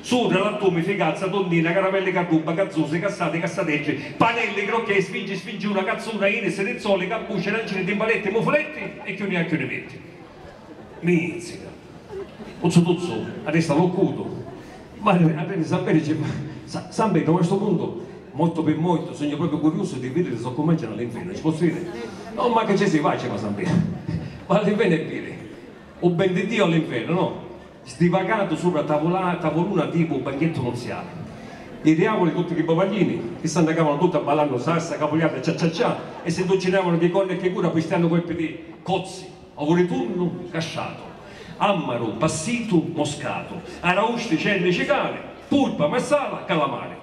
Supra l'attumi, fricazza, tonnina, caramelli carrubba, cazzusi, cassati, cassateggi, panelli, crocchè, sfingi, sfingiuna, cazzuna, inisi, rizzoli, carbuci, arancini, timpaletti, mufuletti e chiù ni ha chiù ni metti. Mizzica. Tuzzu tuzzu, a testa l'ho cutu. Mari Arreni San Peri ci fa, Sa, San Petru, ma a stu puntu, mortu pi mortu, sugnu propriu curiusu di vidiri so cumencianu li nfeni. Ci pozzu jiri? No, ma chi ci si, vaci, va San Petru. Va a li nfeni e viri. U ben di Diu a li nfeni, no? sdivagatu supra a tavuluna tipu banchettu nuziali. I diavuli, tutti chi bovaglini, chi s'annacavanu tutti abballannu sassa, capuliarda, ciaciacià, e si nduccinavanu chi corna e chi cura pistiannu colpi di cozzi, ovuritunnu, casciatu, ammaru, passitu, moscatu, arausti, cerni, cicali, purpa, marsala, calamari.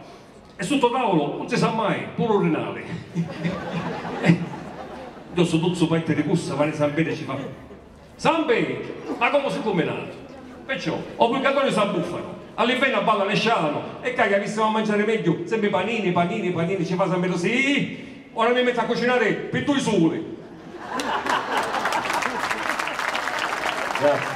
E sutta o tavulu, un si sa mai, puru u rinali. Ddossu tuzzu parti di cussa, Mari San Pedri ci fa. San Petru, ma comu si cuminatu? Perciò, o purgatoriu s'abbuffanu, a li feni abballa ne scianu, e cca chi avissimu a manciari megghiu sempri panini, panini, panini, ci fa San Petru si, ih, ora mi mettu a cucinari pi dui suli. Grazie.